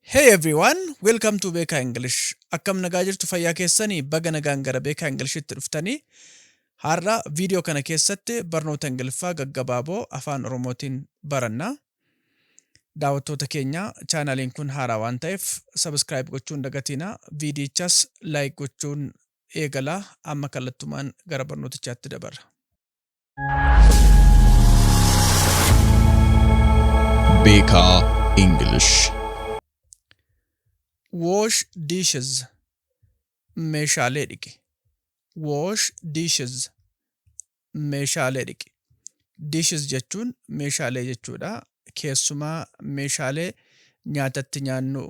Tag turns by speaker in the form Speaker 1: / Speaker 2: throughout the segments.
Speaker 1: Hey everyone, welcome to Beekaa English. Akkam nagaa jirtu fayyaa keessanii baga nagaan gara Beekaa Inglishitti dhuftanii. Har'a viidiyoo kana keessatti barnoota Ingiliffaa gaggabaaboo afaan Oromootiin baranna. Daawwattoota keenya chaanaaliin kun haaraa waan ta'eef subscribe gochuun dagatiina. Viidiyichas like gochuun eegalaa amma kallattumaan gara barnootichaatti dabarra.
Speaker 2: Beekaa English.
Speaker 1: Wash dishes. Meeshaalee dhiqi. Wash dishes. Meeshaalee dhiqi. Dishes jechuun meeshaalee jechuudha. keessumaa meeshaalee nyaata itti nyaannu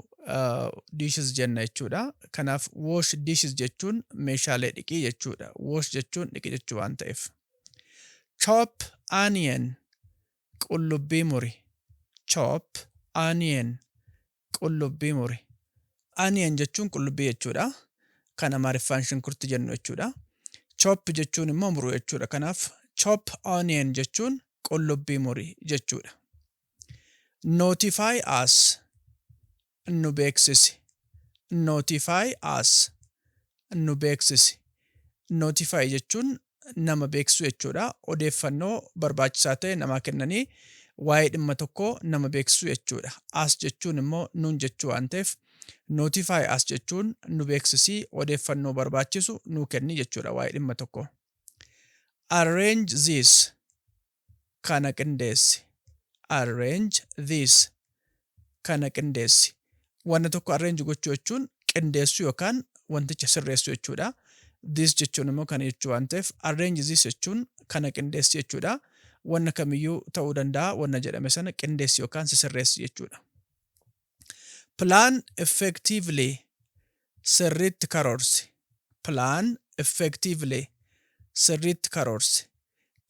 Speaker 1: dishes jenna jechuudha. Kanaaf wash dishes jechuun meeshaalee dhiqii jechuudha. Wash jechuun dhiqi jechuu waan ta'eef. Chop onion qullubbii muri. Chop onion Qullubbii muri. Onion jechuun qullubbii jechuudha. Kan Amaariffaan shunkurti jennu jechuudha. Chop jechuun immoo muruu jechuudha. Kanaaf chop onion jechuun qullubbii muri jechuudha. Notify us nu beeksisi. Notify us nu beeksisi. Notify jechuun nama beeksisuu jechuudha. Odeeffannoo barbaachisaa ta'e namaa kennanii waa'ee dhimma tokkoo nama beeksisuu jechuudha. As jechuun immoo nuun jechuu waan ta'eef notify as jechuun nu beeksisii odeeffannoo barbaachisu nuu kenni jechuudha waa'ee dhimma tokkoo. Arrange this Kana qindeessi. Arrange this. Kana qindeessi. Wanna tokko arrange gochuu jechuun qindeessuu yookaan wanticha sirreessuu jechuudha. This jechuun immoo kana jechuu waan ta'eef arrange this jechuun kana qindeessi jechuudha. Wanna kamiyyuu ta'uu danda'a wanna jedhame sana qindeessi yookaan sisirreessi jechuudha. Plan effectively Sirriitti karoorsi Plan effectively Sirriitti karoorsi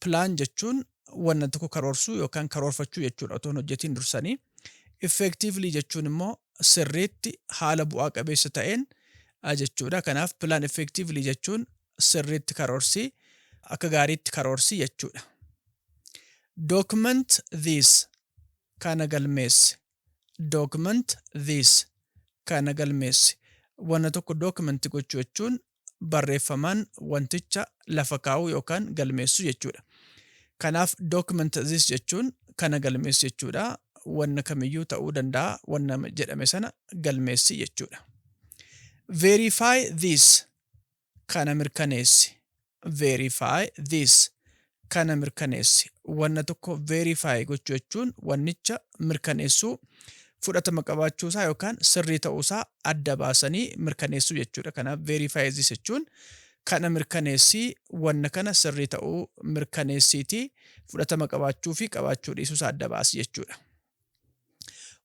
Speaker 1: Plan jechuun wanna tokko karoorsuu yookaan karoorfachuu jechuudha otoo hin hojjetiin dursanii. Effectively jechuun immoo sirriitti haala bu'aa qabeessa ta'een jechuudha. Kanaaf plan effectively jechuun sirriitti karoorsi akka gaariitti karoorsi jechuudha. Document this kana galmeessi Document this Kana galmeessi. Wanna tokko document gochuu jechuun barreeffamaan wanticha lafa kaa'uu yookaan galmeessuu jechuudha. Kanaaf document this jechuun kana galmeessi jechuudha. Wanna kamiyyuu ta'uu danda'a wanna jedhame sana galmeessi jechuudha. Verify this kana mirkaneessi, verify this, kana mirkaneessi. Wanna tokko verify gochuu jechuun wannicha mirkaneessuu, fudhatama qabaachuu isaa yookaan sirrii ta'uu isaa adda baasanii mirkaneessuu jechuudha. Kanaaf verify this jechuun kana mirkaneessii, wanna kana sirrii ta'uu mirkaneessiitii fudhatama qabaachuu fi qabaachuu dhiisuu isaa adda baasi jechuudha.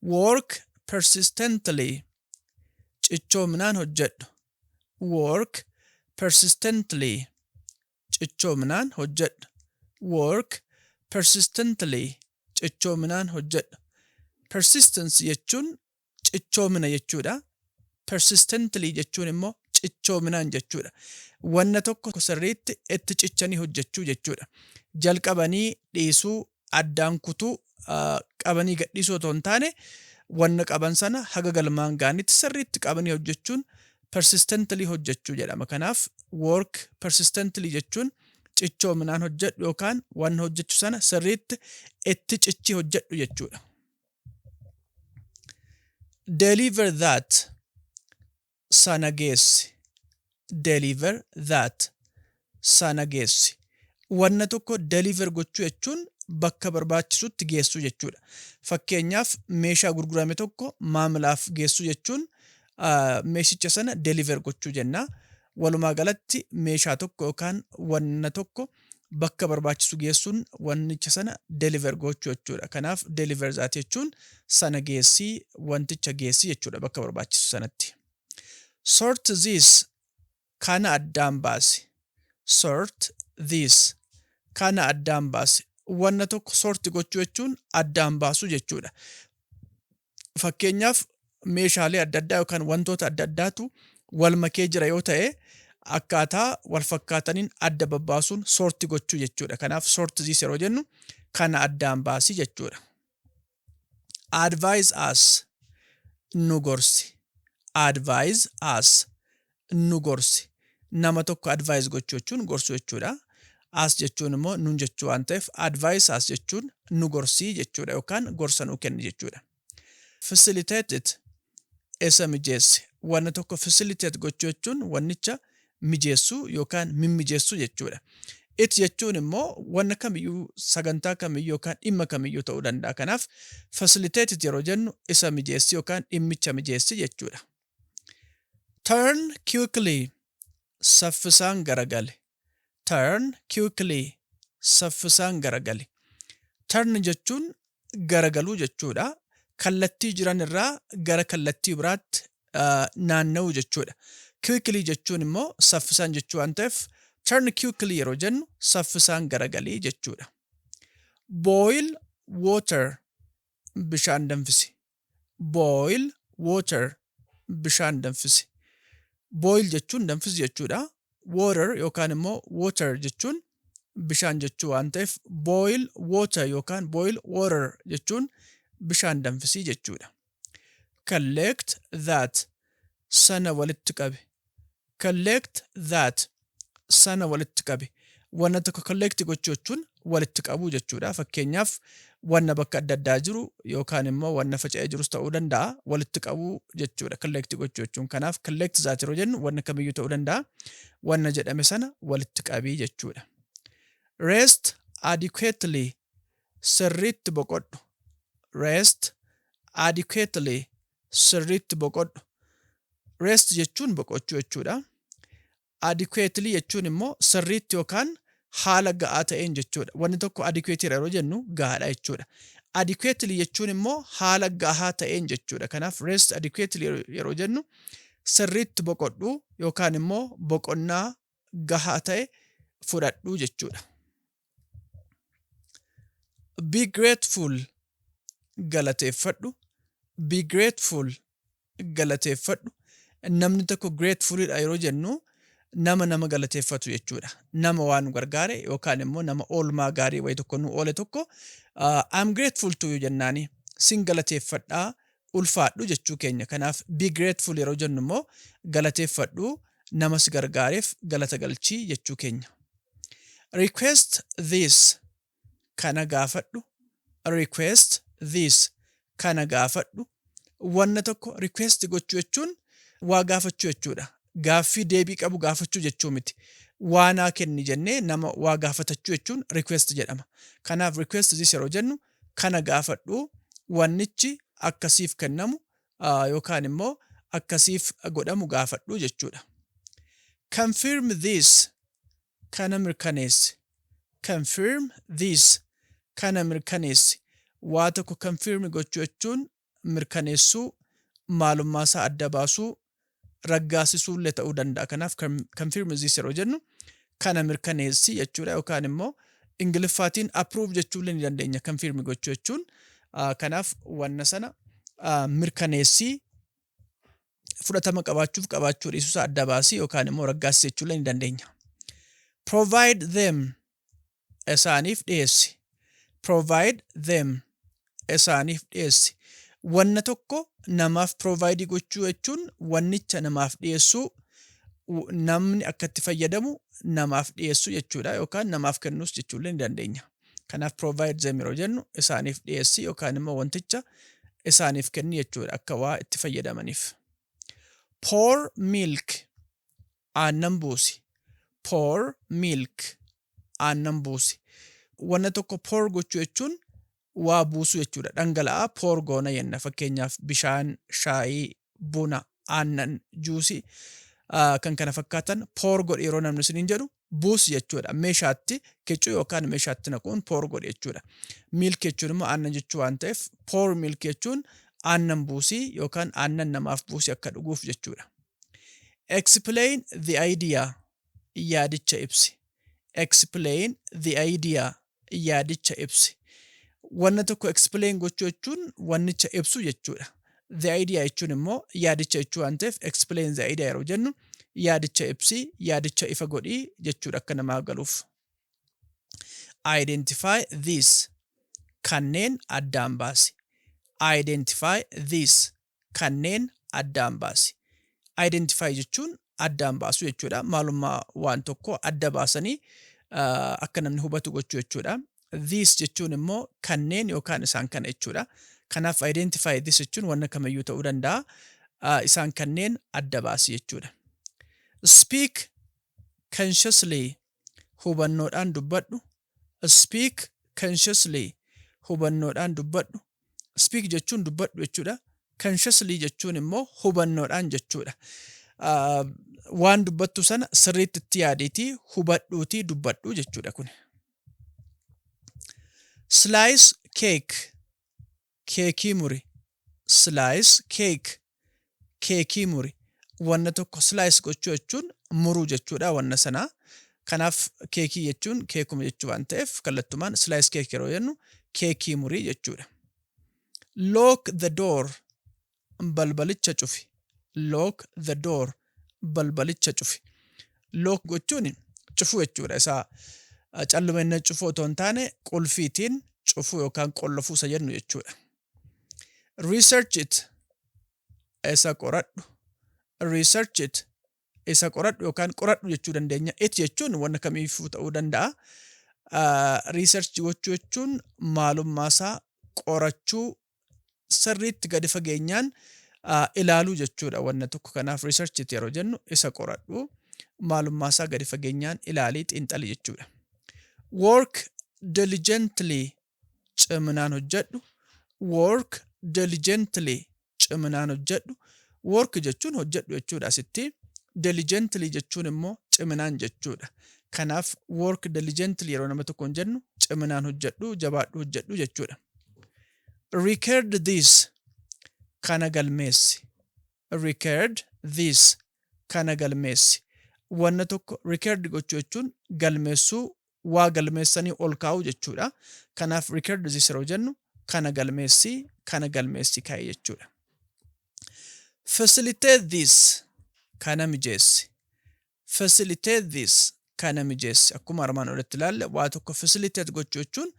Speaker 1: Work persistently, cichoominaan hojjedhu, Work persistently Cichoominaan hojjedha. Work persistently Cichoominaan hojjedha. Persistence jechuun cichoomina jechuudha. Persistently jechuun immoo cichoominaan jechuudha. Wanna tokko sirriitti itti cichanii hojjechuu jechuudha. Jalqabanii dhiisuu addaan kutuu, qabanii gadhiisuu otoo hin taane wanna qaban sana haga galmaan ga'anitti sirriitti qabanii hojjechuun persistently hojjechuu jedhama. Kanaaf work persistently jechuun cichoominaan hojjedhu yookaan wanna hojjechu sana sirriitti itti cichii hojjedhu jechuudha. Deliver that sana geessi. Deliver that. sana geessi. Wanna tokko deliver gochuu jechuun bakka barbaachisutti geessuu jechuudha. Fakkeenyaaf meeshaa gurgurame tokko maamilaaf geessuu jechuun meeshicha sana deliver gochuu jenna. Walumaa galatti meeshaa tokko yookaan wanna tokko bakka barbaachisu geessuun wanticha sana deliver gochuu jechuudha. Kanaaf deliver that jechuun sana geessi, wanticha geessi jechuudha bakka barbaachisu sanatti. Sort this kana addaan baasi. Sort this kana addaan baasi. Wanna tokko sort gochuu jechuun addaan baasuu jechuudha. fakkeenyaaf meeshaalee adda addaa yookaan wantoota adda addaatu wal makee jira yoo ta'e akkaataa wal fakkaataniin adda babbaasuun soorti gochuu jechuudha. Kanaaf soorti ziis yeroo jennu kana addaan baasi jechuudha. Advise us nu gorsi. Advise us nu gorsi. Nama tokko advise gochuu jechuun gorsuu jechuudha. As jechuun immoo nun jechuu waan ta'eef advise as jechuun nu gorsii jechuudha yookaan gorsa nuu kenni jechuudha. Facilitate it isa mijeessi. Wanna tokko facilitate gochuu jechuun wannicha mijeessuu yookaan mimmijeessuu jechuudha. It jechuun immoo wanna kamiyyuu sagantaa kamiyyuu yookaan dhimma kamiyyuu ta'uu danda'a. Kanaaf facilitate it yeroo jennu isa mijeessi yookaan dhimmicha mijeessi jechuudha. Turn quickly Saffisaan garagali Turn quickly Saffisaan garagali Turn jechuun garagaluu jechuudha. Kallattii jiran irraa gara kallattii biraatti naanna'uu jechuudha. Quickly jechuun immoo saffisaan jechuu waan ta'eef turn quickly yeroo jennu saffisaan garagali jechuudha. Boil water Bishaan danfisi boil water bishaan danfisi. Boil jechuun danfisi jechuudha. Water yookaan immoo water jechuun bishaan jechuu waan ta'eef boil water yookaan boil water jechuun bishaan danfisii jechuudha. Collect that sana walitti qabi. collect that sana walitti qabi wanna tokko collect gochuu jechuun walitti qabuu jechuudha fakkeenyaaf wanna bakka adda addaa jiru yookaan immoo wanna faca'ee jirus ta'uu danda'a walitti qabuu jechuudha collect gochuu jechuun kanaaf collect that yeroo jennu wanna kamiyyuu ta'uu danda'a wanna jedhame sana walitti qabii jechuudha rest adequately sirriitti boqodhu rest adequately sirriitti boqodhu. Rest jechuun boqochuu jechuudha. Adequately jechuun immoo sirriitti yookaan haala ga'aa ta'een jechuudha. Wanni tokko adequate dha yeroo jennu gahaadha jechuudha. Adequately jechuun immoo haala gahaa ta'een jechuudha. Kanaaf rest adequately yeroo jennu sirriitti boqodhu yookaan immoo boqonnaa gahaa ta'e fudhadhu jechuudha. Be grateful galateeffadhu. Be grateful galateeffadhu. Namni tokko gratefulidha yeroo jennu nama nama galateeffatu jechuudha. Nama waan nu gargaare yookaan immoo nama oolmaa gaarii wayii tokko nu oole tokko uh, I'm grateful to you jennaani sin galateeffadhaa ulfaadhu jechuu keenya. Kanaaf be grateful yeroo jennu immoo galateeffadhu nama si gargaareef galata galchii jechuu keenya. Request this Kana gaafadhu Request this Kana gaafadhu Wanna tokko request gochuu jechuun waa gaafachuu jechuudha. Gaaffii deebii qabu gaafachuu jechuu miti. Waa naa kenni jennee nama waa gaafatachuu jechuun request jedhama. Kanaaf request this yeroo jennu kana gaafadhu wannichi akka siif kennamu yookaan immoo akka siif godhamu gaafadhu jechuudha. Confirm this kana mirkaneessi. Confirm this kana mirkaneessi. Waa tokko confirm gochuu jechuun mirkaneessuu, maalummaa isaa adda baasuu, raggaasisuulle ta'uu danda'a. Kanaaf confirm this yeroo jennu kana mirkaneessi jechuudha yookaan immoo Ingiliffaatiin approve jechuulle ni dandeenya confirm gochuu jechuun. Kanaaf wanna sana mirkaneessi fudhatama qabaachuuf qabaachuu dhiisuusaa adda baasii yookaan immoo raggaasisi jechuulle ni dandeenya. Provide them isaaniif dhiyeessi. Provide them isaaniif dhiyeessi. Wanna tokko namaaf provide gochuu jechuun wannicha namaaf dhiyeessuu namni akka itti fayyadamu namaaf dhiyeessuu jechuudha yookaan namaaf kennuus jechuullee ni dandeenya. Kanaaf provide them yeroo jennu isaaniif dhiyeessi yookaan immoo wanticha isaaniif kenni jechuudha akka waa itti fayyadamaniif. Pour milk aannan buusi. Pour milk, aannan buusi. Wanna tokko pour gochuu jechuun waa buusuu jechuudha. Dhangala'aa pour goona jenna. Fakkeenyaaf bishaan, shaayii, buna, aannan, juusii ah, kan kana fakkaatan pour godhi yeroo namni isiniin jedhu buusi jechuudha. Meeshaatti kicuu yookaan meeshaatti naquun pour godhi jechuudha. Milk jechuun immoo aannan jechuu waan ta'eef pour milk jechuun aannan buusii yookaan aannan namaaf buusii akka dhuguuf jechuudha. Explain the idea. Yaadicha ibsi. Explain the idea. Yaadicha ibsi. Wanna tokko explain gochuu jechuun wannicha ibsu jechuudha. The idea jechuun immoo yaadicha jechuu waan ta'eef explain the idea yeroo jennu yaadicha ibsi, yaadicha ifa godhi jechuudha akka namaaf galuuf. Identify these. Kanneen addaan baasi. Identify these. kanneen addaan baasi. Identify jechuun addaan baasuu jechuudha. Maalummaa waan tokko adda baasanii akka namni hubatu gochuu jechuudha. These jechuun immoo kanneen yookaan isaan kana jechuudha. Kanaaf identify this jechuun wanna kamiyyuu ta'uu danda'a. Isaan kanneen adda baasi jechuudha. Speak consciously hubannoodhaan dubbadhu Speak consciously, hubannoodhaan dubbadhu. Speak jechuun dubbadhu jechuudha. Consciously jechuun immoo hubannoodhaan jechuudha. Waan dubbattu sana sirriitti itti yaadiitii hubadhuutii dubbadhu jechuudha kuni. Slice cake, keekii muri slice cake keekii muri wanna tokko slice gochuu jechuun muruu jechuudha wanna sana kanaaf keekii jechuun keekuma jechuu waan ta'eef kallattumaan slice cake yeroo jennu keekii murii jechuudha lock the door balbalicha cufi. Lock the door. Balbalicha cufi. Lock gochuun cufuu jechuudha. Isaa callumenne cufuu otoo hin taane qulfiitiin cufuu yookaan qollofuu isa jennu jechuudha. Research it. Isa qoradhu. Research it. Isa qoradhu yookaan qoradhu jechuu dandeenya. It jechuun wanna kamiifuu ta'uu danda'a. Research gochuu jechuun maalummaasaa qorachuu sirriitti gadi fageenyaan ilaaluu jechuudha wanna tokko kanaaf research itti yeroo jennu isa qoradhu maalummaa isaa gadi fageenyaan ilaalii xiinxali jechuudha. Work diligently ciminaan hojjedhu work diligently ciminaan hojjedhu work jechuun hojjedhu jechuudha asitti diligently jechuun immoo ciminaan jechuudha. Kanaaf work diligently yeroo nama tokkoon jennu ciminaan hojjedhu jabaadhu hojjedhu jechuudha. Record this, Kana galmeessi. Record this, Kana galmeessi. Wanna tokko record gochuu jechuun galmeessuu, waa galmeessanii ol kaa'uu jechuudha. Kanaaf record this yeroo jennu kana galmeessi, kana galmeessi kaa'i jechuudha. Facilitate this, Kana mijeessi. Facilitate this, kana mijeessi. Akkuma armaan olitti ilaalle waa tokko facilitate gochuu jechuun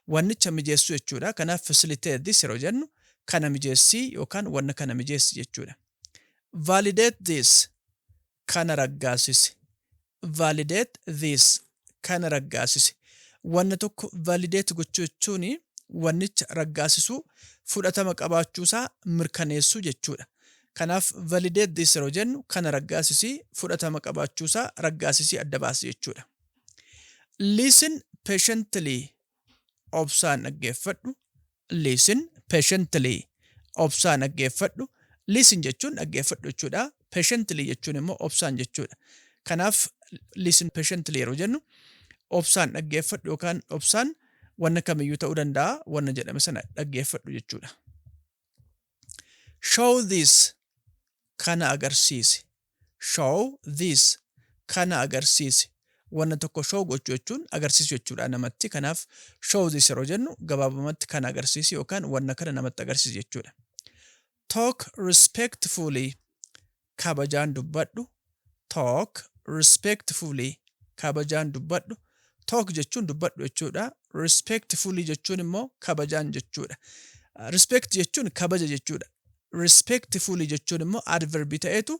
Speaker 1: wannicha mijeessuu jechuudha. Kanaaf facilitate this yeroo jennu kana mijeessi yookaan wanna kana mijeessi jechuudha. Validate this, kana raggaassisi. Validate this, kana raggaasise. Wanna tokko validate gochuu jechuun wannicha raggaasisuu, fudhatama qabaachuu isaa mirkaneessuu jechuudha. Kanaaf validate this yeroo jennu kana raggaasisi, fudhatama qabaachuu isaa raggaasisii adda baasi jechuudha. Listen patiently Obsaan dhaggeeffadhu, listen patiently. Obsaan dhaggeeffadhu, listen jechuun dhaggeeffadhu jechuudha. Patiently jechuun immoo obsaan jechuudha. Kanaaf listen patiently yeroo jennu obsaan dhaggeeffadhu yookaan obsaan wanna kamiyyuu ta'uu danda'a wanna jedhame sana dhaggeeffadhu jechuudha. Show this Kana agarsiisi Show this Kana agarsiisi Wanna tokko show gochuu jechuun agarsiisu jechuudha namatti. Kanaaf show this yeroo jennu gabaabumatti kana agarsiisi yookaan wanna kana namatti agarsiisi jechuudha. Talk respectfully kabajaan dubbadhu talk respectfully kabajaan dubbadhu talk jechuun dubbadhu jechuudha respectfully jechuun immoo kabajaan jechuudha respect jechuun kabaja jechuudha respectfully jechuun immoo adverbi ta'eetu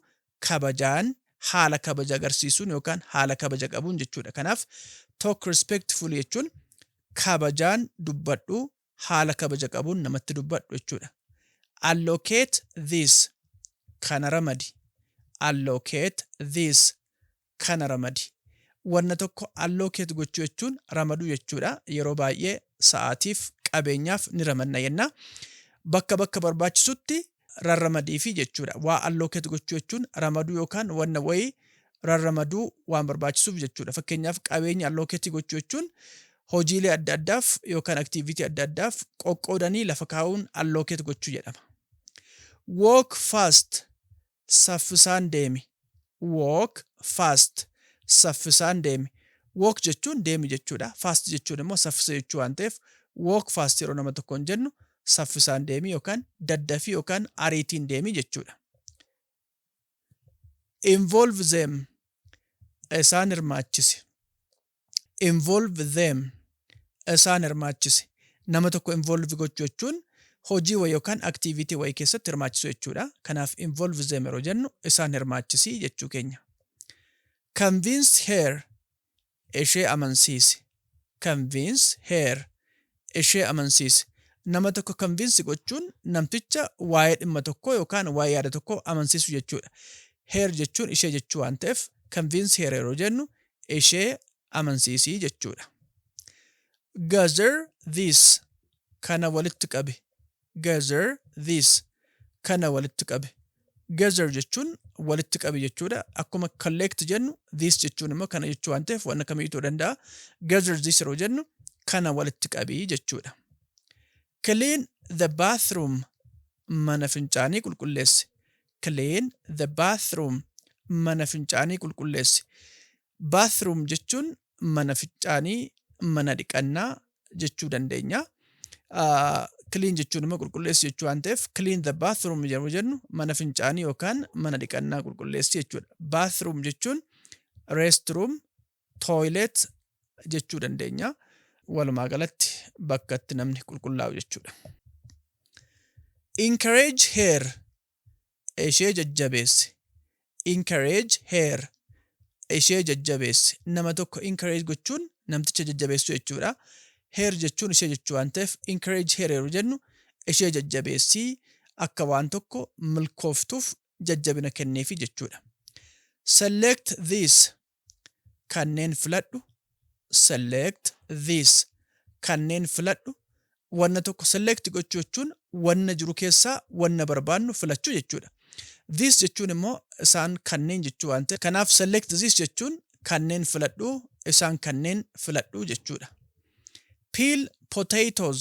Speaker 1: kabajaan haala kabaja agarsiisuun yookaan haala kabaja qabuun jechuudha kanaaf talk respectfully jechuun kabajaan dubbadhu haala kabaja qabuun namatti dubbadhu jechuudha. Allocate this, kana ramadi. Allocate this, kana ramadi. Wanna tokko allocate gochuu jechuun ramaduu jechuudha. Yeroo baay'ee sa'aatiif, qabeenyaaf ni ramadna jenna. Bakka bakka barbaachisutti rarramadiifi jechuudha. Waa allocate gochuu jechuun ramaduu yookaan wanna wayii rarramaduu waan barbaachisuuf jechuudha. Fakkeenyaaf qabeenya allocate gochuu jechuun hojiilee adda addaaf yookaan activity adda addaaf qoqqoodanii lafa kaa'uun allocate gochuu jedhama. Walk fast, saffisaan deemi. walk fast Saffisaan deemi Walk jechuun deemi jechuudha. Fast jechuun immoo saffisa jechuu waan ta'eef walk fast yeroo nama tokkoon jennu saffisaan deemi yookaan daddafii yookaan ariitiin deemi jechuudha. Involve them Isaan hirmaachisi. Involve them, isaan hirmaachisi. Nama tokko involve gochuu jechuun hojii wayi yookaan activity wayi keessatti hirmaachisuu jechuudha. Kanaaf involve them yeroo jennu isaan hirmaachisi jechuu keenya. Convince her, ishee amansiisi. Convince her, ishee amansiisi. Nama tokko kanviinsi gochuun namticha waa'ee dhimma tokkoo yookaan waa'ee yaada tokkoo amansiisuu jechuudha. Her jechuun ishee jechuu waan ta'eef convince her yeroo jennu ishee amansiisi jechuudha. Gather these kana walitti qabi. Gather these, kana walitti qabi. Gather jechuun walitti qabi jechuudha. Akkuma collect jennu these jechuun immoo kana jechuu waan ta'eef waan akkamii ta'uu danda'a. Gather these yeroo jennu kana walitti qabi jechuudha. Clean the bathroom, mana fincaanii qulqulleessi. Clean the bathroom, mana fincaanii qulqulleessi. Bathroom jechuun mana ficcaanii, mana dhiqannaa jechuu dandeenya. Clean jechuun immoo qulqulleessu jechuu waan ta'eef clean the bathroom yeroo jennu mana fincaanii yookaan mana dhiqannaa qulqulleessi jechuudha. Bathroom jechuun restroom, toilet jechuu dandeenya. Walumaa galatti bakka itti namni qulqullaa'u jechuudha. Encourage her ishee jajjabeessi. Encourage her. Ishee jajjabeessi. Nama tokko encourage gochuun namticha jajjabeessuu jechuudha. Her jechuun ishee jechuu waan ta'eef encourage her yeroo jennu ishee jajjabeessii akka waan tokko milkooftuuf jajjabina kenneefi jechuudha. Select this. Kanneen filadhu Select this Kanneen filadhu Wanna tokko select gochuu jechuun wanna jiru keessaa wanna barbaannu filachuu jechuudha. This jechuun immoo isaan kanneen jechuu waan ta'eef kanaaf select this jechuun kanneen filadhu isaan kanneen filadhu jechuudha. Peel potatoes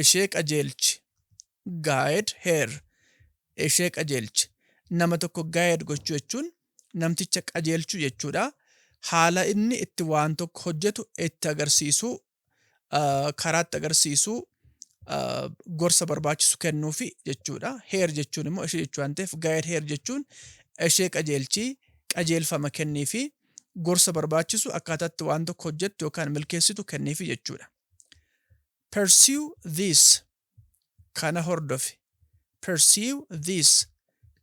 Speaker 1: ishee qajeelchi, guide her, ishee qajeelchi. Nama tokko guide gochuu jechuun namticha qajeelchuu jechuudha. Haala inni itti waan tokko hojjetu itti agarsiisuu, ah, karaa itti agarsiisuu, ah, gorsa barbaachisu kennuufi jechuudha. Her jechuun immoo ishee jechuu waan ta'eef guide her jechuun ishee qajeelchii, qajeelfama kenniifi, gorsa barbaachisu akkaataa itti waan tokko hojjettu yookaan milkeessitu kenniifi jechuudha. Pursue this Kana hordofi Pursue this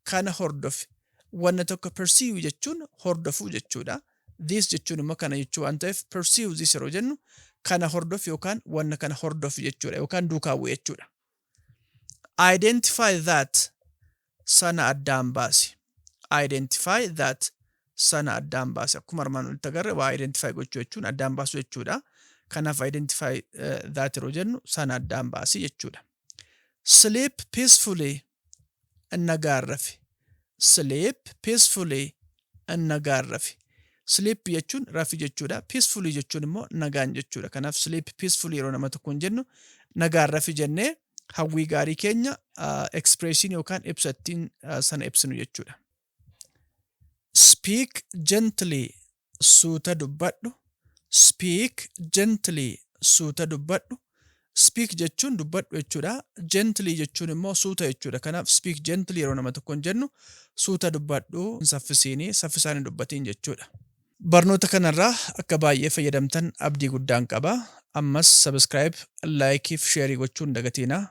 Speaker 1: Kana hordofi Wanna tokko pursue jechuun hordofuu jechuudha. This jechuun immoo kana jechuu waan ta'eef pursue this yeroo jennu kana hordofi yookaan wanna kana hordofi jechuudha yookaan duukaa bu'i jechuudha. Identify that sana addaan baasi. Identify that sana addaan baasi. Akkuma armaan olitti agarre waa identify gochuu jechuun addaan baasuu jechuudha. Kanaaf identify eh, that yeroo jennu sana addaan baasi jechuudha. Sleep peacefully nagaan rafi. Sleep peacefully nagaan rafi. Sleep jechuun rafi jechuudha. Peacefully jechuun immoo nagaan jechuudha. Kanaaf sleep peacefully yeroo nama tokkoon jennu nagaan rafi jennee hawwii gaarii keenya expression yookaan ibsa ittiin sana ibsinu jechuudha. Speak gently suuta dubbadhu. Speak gently suuta dubbadhu. Speak jechuun dubbadhu jechuudha. Gently jechuun immoo suuta jechuudha. Kanaaf speak gently yeroo nama tokkoon jennu suuta dubbadhu hin saffisiini saffisaan hin dubbatiin jechuudha. Barnoota kana irraa akka baay'ee fayyadamtan abdii guddaan qaba. Ammas subscribe, like fi share gochuu hin dagatiinaa.